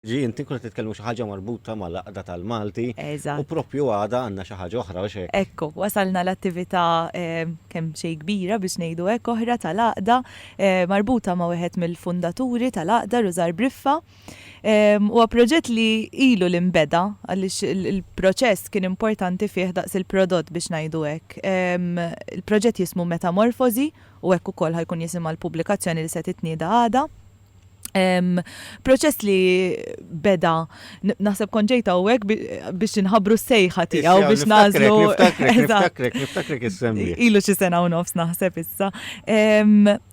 Ġi inti kont qed titkellmu xi ħaġa marbuta mal-Għaqda tal-Malti. Eżatt. U proprju għada għandna xi ħaġa oħra, mhux hekk? Ekku, wasalna l-attività kemm xejn kbira biex ngħidu hekk oħra tal-Għaqda, marbuta ma' wieħed mill-fundaturi tal-Għaqda, Rużar Briffa. Huwa proġett li ilu li nbeda għaliex il-proċess kien importanti fih daqs il-prodott biex ngħidu hekk. Il-proġett jismu Metamorfożi u hekk ukoll ħa jkun jisimha l-pubblikazzjoni li se titnieda għada. proċess li beda, naħseb konġejta u għek biex nħabru s-sejħa tijaw biex nazlu. Niftakrek, niftakrek, niftakrek il-semmi. Ilu xie sena u nofs naħseb issa.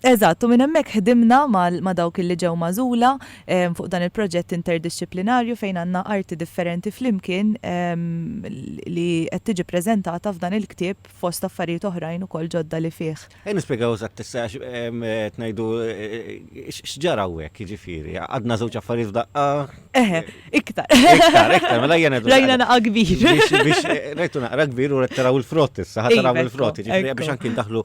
Eżatt, u minn hemmhekk ħdimna ma' dawk li ġew mażula fuq dan il-proġett interdixxiplinarju fejn għandna arti differenti flimkien li qed tiġi preżentata f'dan il-ktieb fost affarijiet oħrajn ukoll ġodda li fih. Ejja nispjegaw eżatt issa għax qed ngħidu x'ġara hawnhekk, jiġifieri, għadna żewġ affarijiet f'daqqa. Eħe, iktar. Iktar, iktar, mela jien qed. Rajna naqa' kbir. Biex rajtu naqra kbir u qed taraw il-frott issa, ħa taraw il-frott, jiġifieri biex anki ndaħlu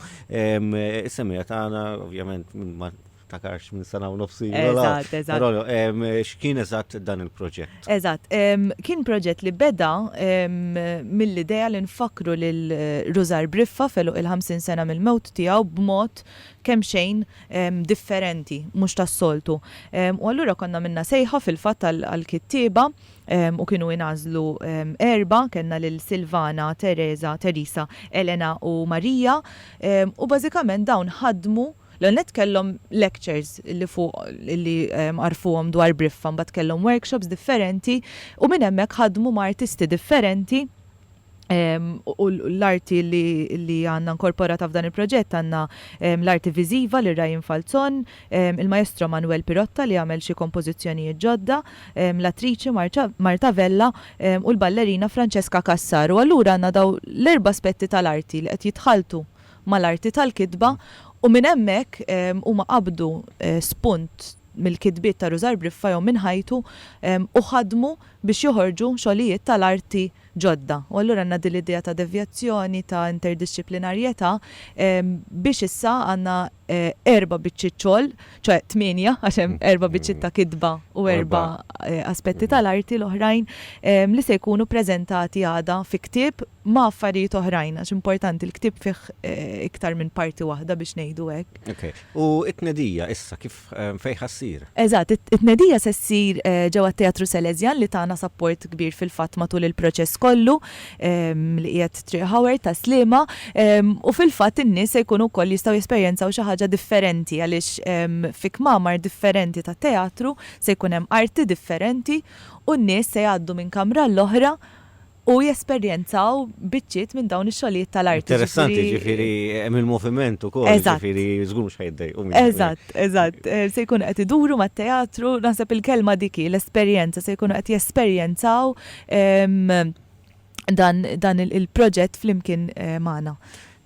is-semija tagħna, ovvjament, ma niftakarx minn sena u nofs ilu. Eżatt, eżatt. Rollo, em, x'kien eżatt dan il-proġett? Eżatt, em, kien proġett li beda em, mill-idea li nfakkru lil Rużar Briffa f'għeluq il-50 sena mill-mewt tiegħu b'mod kemm xejn em, differenti, mhux tas-soltu. Em, u allura konna għamilna sejħa fil-fatt għal- għall-kittieba em, u kienu ingħażlu em, erbgħa, kellna lil Silvana, Teresa, Teresa, Elena u Marija, em, u bażikament dawn ħadmu L-ewwel nett kellhom lectures li fuq li għarrfuhom dwar Briffa, mbagħad kellhom workshops differenti u minn hemmhekk ħadmu ma' artisti differenti u l-arti li għandna nkorporata f'dan il-proġett għandna l-arti viżiva lil Ryan Falzon, il-Maestro Manuel Pirotta li għamel xi kompożizzjonijiet ġodda, l-attriċi Marta Vella u l-ballerina Francesca Cassar. U allura għandna dawn l-erba' aspetti tal-arti li qed jitħalltu mal-arti tal-kitba u minn hemmhekk huma qabdu spunt mill-kitbiet ta' Rużar Briffa jew minn ħajtu u ħadmu biex joħorġu xogħlijiet tal-arti ġodda. U allura għandna din l-idea ta' devjazzjoni, ta' interdixxiplinarjetà biex issa għandna erba' biċċiet xogħol, ċoe tmienja għax hemm erba' biċċiet ta' kitba u erba' aspetti tal-arti l-oħrajn li se jkunu ppreżentati għada fi ktieb ma' affarijiet oħrajn, għax importanti, l-ktieb fih iktar minn parti waħda biex ngħidu hekk. Ok. U t-tnedija issa kif, fejn ħa ssir? Eżatt, it-tnedija se ssir ġewwa t-Teatru Salesian li tana sapport kbir fil-fatt matul il-proċess kollu li qiegħed Triq Howard ta' Sliema u fil-fatt in-nies se jkunu wkoll jistgħu jesperjenzaw xi ħaġa differenti għaliex fi kmamar differenti ta' teatru se jkun hemm arti differenti u n-nies se jgħaddu minn kamra għall-oħra u jesperjenzaw biċċiet minn dawn ix-xogħlijiet tal-arti. Interessanti, ġifieri hemm il-moviment ukoll, ġifieri żgur mhux ħa jiddejqu. Eżatt, eżatt. Se jkunu qed iduru mat-teatru, naħseb il-kelma dik hi, l-esperjenza, se jkunu qed jesperjenzaw dan il-proġett flimkien magħna.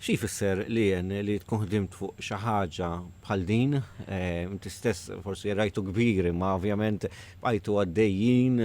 Xi jfisser li jien li tkun ħdimt fuq xi ħaġa bħal din? Inti stess forsi rajtu kbir imma ovvjament bqajtu għaddejjin,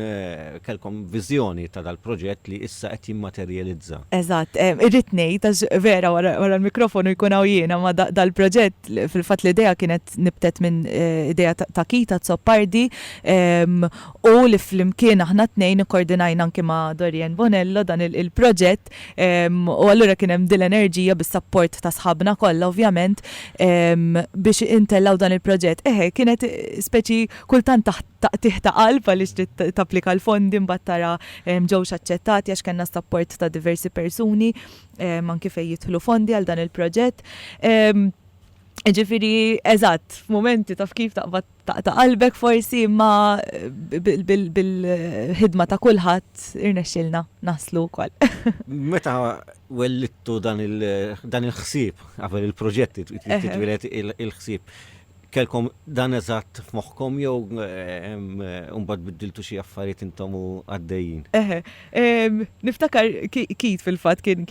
kellkom viżjoni ta' dal-proġett li issa qed jimmaterjalizza. Eżatt. Irrid ngħid, għax vera wara l-mikrofonu jkun hawn jien, imma dal-proġett fil-fatt l-idea kienet nibtet minn idea ta' Keith Azzopardi u li flimkien aħna t-tnejn ikkordinajna anki ma' Dorian Bonello dan il-proġett. Eżatt. U allura kien hemm din l-enerġija bis-sapport ta' sħabna kollha ovvjament biex intellgħu dan il-proġett. Eħe, kienet speċi kultant taħt taqtigħ ta' qalb għaliex trid tapplika l-fondi mbagħad tara ġewx aċċettati għax kellna s-sapport ta' diversi persuni anki fejn jidħlu fondi għal dan il-proġett. Jiġifieri, eżatt, f'mumenti taf kif taqbad Taqta' qalbek forsi imma bil-ħidma ta' kulħadd irnexxielna naslu wkoll. Meta wellidtu dan il-ħsieb qabel il-proġett jitwieled il-ħsieb, kellkom dan eżatt f'moħħkom jew mbagħad biddiltu xi affarijiet intom u għaddejjin? Eħe. Niftakar Keith fil-fatt kien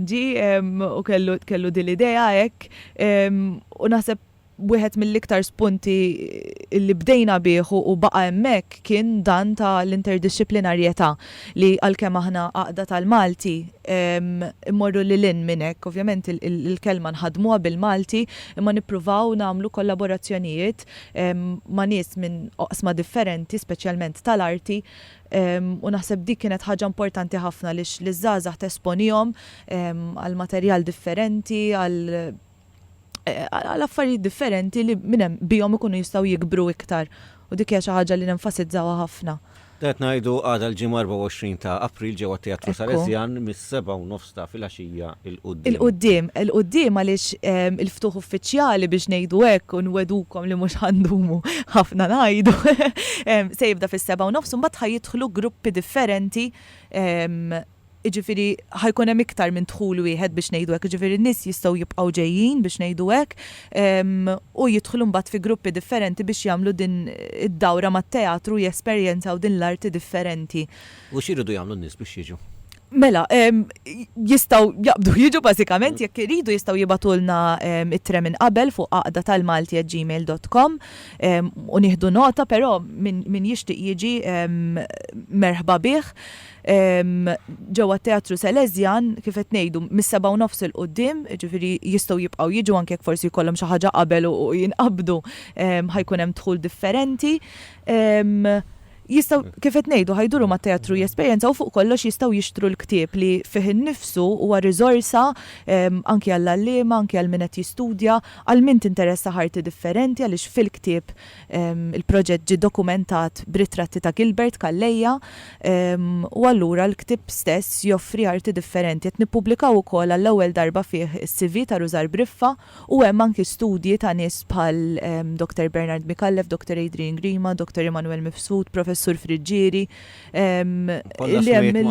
ġie u kellu din l-idea hekk u naħseb Wieħed mill-iktar spunti li bdejna bih u baqa' hemmhekk kien dan ta' l-interdixxiplinarjetà li għalkemm aħna għaqda tal-Malti mmorru lil hinn minn hekk. Ovvjament il-kelma nħaddmuha bil-Malti imma nippruvaw nagħmlu kollaborazzjonijiet ma' nies minn oqsma differenti speċjalment tal-arti u naħseb dik kienet ħaġa importanti ħafna għaliex liż-żgħażagħ tesponihom għal materjal differenti, għal eh, għal affarijiet differenti li minn hemm bihom ikunu jistgħu jikbru iktar u dik hija xi ħaġa li nenfasizzawha ħafna. Dat ngħidu għadha l-ġimgħa 24 ta' April ġewwa Teatru Salesjan mis-seba' u nofs ta' filgħaxija il qudiem il qudiem il qudiem għaliex ehm, il-ftuħ uffiċjali biex ngħidu hekk u nwedukom li mhux ħandumu ħafna ngħidu. Ehm, se jibda fis-seba' u nofs u mbagħad ħajidħlu gruppi differenti ehm, Jiġifieri ħa jkun hemm iktar minn dħul wieħed biex ngħidu hekk, jiġifieri n-nies jistgħu jibqgħu ġejjin biex ngħidu hekk u jidħlu mbagħad fi gruppi differenti biex jagħmlu din id-dawra mat-teatru u jesperjenzaw din l-arti differenti. U x'iridu jagħmlu n-nies biex jiġu? Mela, jistgħu jaqbdu jiġu bażikament, jekk iridu jistgħu jibgħatulna ittra minn qabel fuq għaqdatalmalti@gmail.com u nieħdu nota, però min jixtieq jiġi merħba bih. ġewwa t-Teatru Salesian, kif qed ngħidu, mis-sebgħa u nofs 'il quddiem, jiġifieri jistgħu jibqgħu jiġu anke jekk forsi jkollhom xi ħaġa qabel u jinqabdu ħa jkun hemm dħul differenti. Jistgħu, kif qed ngħidu, ħa jduru mat-teatru jesperjenzaw u fuq kollox jistgħu jixtru l-ktieb li fih innifsu huwa riżorsa anki għall-għalliema, anki għal min qed jistudja, għal min tinteressah arti differenti għaliex fil-ktieb Il-proġett ġie dokumentat b'ritratti ta' Gilbert Calleja u allura l-ktieb stess joffri arti differenti. Qed nippubblikaw ukoll għall-ewwel darba fih is-CV ta' Rużar Briffa u hemm anki studji ta' nies bħal Dottor Bernard Micallef, Dottor Adrian Grima, Dottor Emmanuel Mifsud, Professur Friggieri, Hemm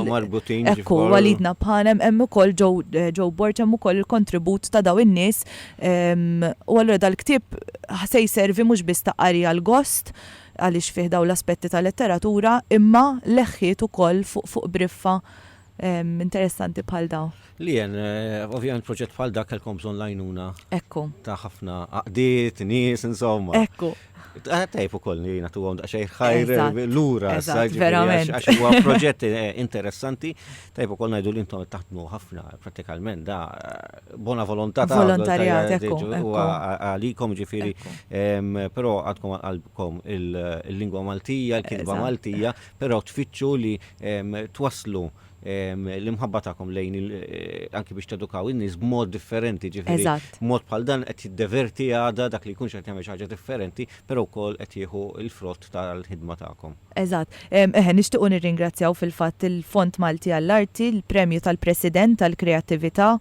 marbutin. Ekku, walidna bħanem, hemm ukoll ġew bord hemm ukoll il-kontribut ta' daw in-nies. U allura dal-ktieb se jservi mhux biss ta' qari għal gost għaliex fih daw l-aspetti ta' letteratura, imma leħħiet ukoll fuq briffa interessanti bħal dawn. Lian, ovvjament proġett bħal dak kellkom bżonn l-għajnuna. Ekku. Ta' ħafna għaqdiet, nies, insomma. Ekku. Tajb ukoll li nagħtu għom daqsxejn ħajr lura s-sajt. Verament. Għax huwa proġett eh, interessanti, tajb ukoll ngħidu li intom taħdmu ħafna pratikament da eh, bona volontà ta' volontarjat għalikom ġifieri, però għadkom għalbkom il-lingwa Maltija, il-kitba Maltija, Però tfittxu li twasslu l-imħabba tagħkom lejn il anki biex tedukaw in-nies b'mod differenti, ġifieri mod bħal dan qed jiddeverti għada dak li jkunx qed jagħmel xi ħaġa differenti, però wkoll qed jieħu l-frott tal-ħidma tagħkom. Eżatt. Eħe, nixtiequ nirringrazzjaw fil-fatt il-Fond Malti għall-Arti, il-Premju tal-President għall-Kreattività,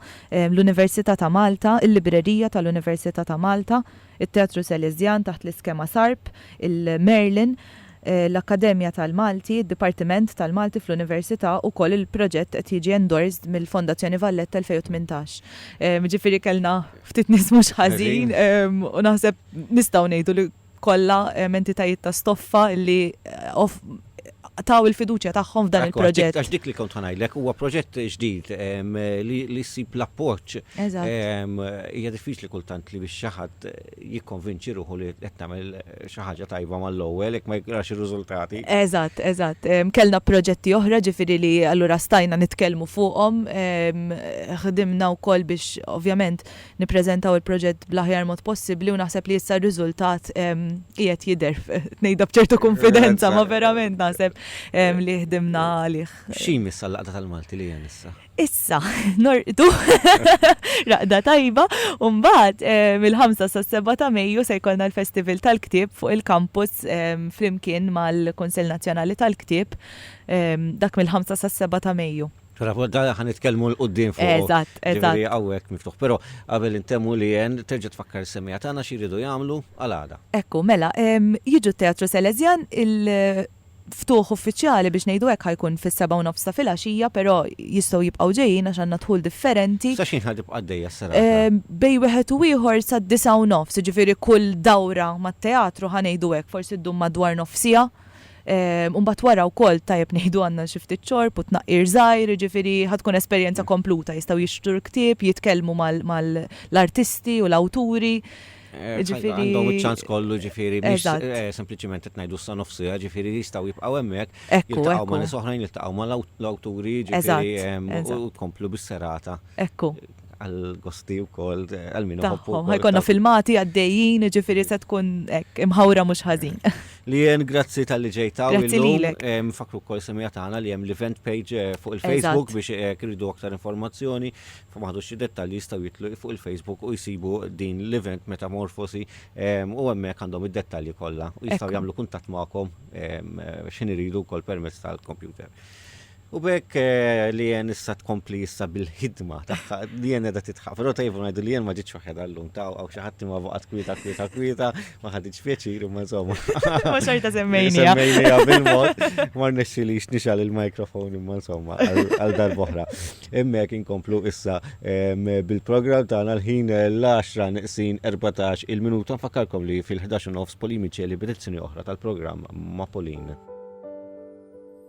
l-Università ta' Malta, il-Librerija tal-Università ta' Malta, it-Teatru Sależjan taħt l-iskema SARP, il-Merlin, l-Akkademja tal-Malti, id-Dipartiment tal-Malti fl-Università, ukoll il-proġett qed jiġi endorsed mill-Fondazzjoni Valletta 2018. Jiġifieri kellna ftit nies mhux ħażin u naħseb nistgħu ngħidu li kollha entitajiet ta' stoffa li taw il-fiduċja tagħhom f'dan il-proġett. Għax dik li kont ħa ngħidlek, huwa proġett ġdid li ssib l-appoġġ. Hija diffiċli kultant li biex xi ħadd jikkonvinċi ruħu li qed tagħmel xi ħaġa tajba mal-ewwel jekk ma jarax ir-riżultati. Eżatt, eżatt. Kellna proġetti oħra ġifieri li allura stajna nitkellmu fuqhom. Ħdimna wkoll biex ovvjament nippreżentaw il-proġett bl-aħjar mod possibbli u naħseb li issa r-riżultat qiegħed jidher ngħidha b'ċertu kunfidenza ma verament naħseb li ħdimna għalih. Xi jmiss għall-Għaqda tal-Malti li hemm issa? Issa, norqdu raqda tajba u mbagħad mill-5 sas-7 ta' Mejju se jkollna l-Festival tal-Ktieb fuq il-kampus flimkien mal-Kunsell Nazzjonali tal-Ktieb dak mill-5 sas-7 ta' Mejju. Dana ħan nitkellmu l-qoddim fuq. Eżatt, eżatt. Għawek miftuħ, pero għabel intemmu li jen terġa tfakkar semija tana xiridu jgħamlu għal-għada. Ekku, mela, jiġu teatru Selezjan il-ftuħ uffiċjali biex nejdu hekk ħajkun fis-seba' u nofs ta' filgħaxija, pero jistgħu jibqgħu ġejjin għax għandna dħul differenti. Sa x'ħin ħad tibqa' għaddejja s-serata? Bejn wieħed u ieħor sad-disgħa u nofs, jiġifieri kull dawra mat-teatru ħa ngħidu hekk forsi ddum madwar nofsiegħa. U mbagħad wara wkoll tajjeb ngħidu għandna xi ftit xorb u tnaqqir żgħir, jiġifieri ħa tkun esperjenza kompluta, jistgħu jixtru l-ktieb, jitkellmu mal-artisti u l-awturi, jiġifieri. Għandhom iċ-ċans kollu, jiġifieri mhix sempliċiment qed ngħidu sa nofsiha, jiġifieri jistgħu jibqgħu hemmhekk, jiltaqgħu ma' nies oħrajn, jiltaqgħu mal-awturi, jiġifieri u tkomplu bis-serata. Ekku. għal-gosti u kol, għal-minu għobbu. Għajkonna filmati għaddejjin, ġifiri se tkun imħawra mux ħazin. Li jen, grazzi tal-li ġejta. Grazzi li l-ek. Fakru kol semija taħna li jem l-event page eh, fuq il-Facebook biex eh, kridu aktar informazzjoni, fa maħdu xie dettalji jistaw jitlu fuq il-Facebook u jisibu din l-event metamorfosi u għemmek għandhom id-dettalji kolla u jistaw jamlu kuntat maħkom eh, xin iridu kol permess tal-kompjuter. U bekk li jen issa tkompli issa bil-ħidma tagħha li jen qiegħda titħaq. Però tajbu ngħidu li jen ma ġitx waħedha llum ta' għaw xi ħadd ma baqgħet kwieta kwieta kwieta ma ħaditx pjaċir imma insomma. Ma xorta semmejni. Semmejnija bil-mod ma rnexxilix nixal il-mikrofon imma insomma għal darb'oħra. Hemmhekk inkomplu issa bil-programm tagħna l-ħin l-10 niqsin 14 il-minuta nfakkarkom li fil-11 nofs Polimiċeli b'edizzjoni oħra tal-programm ma' Polin.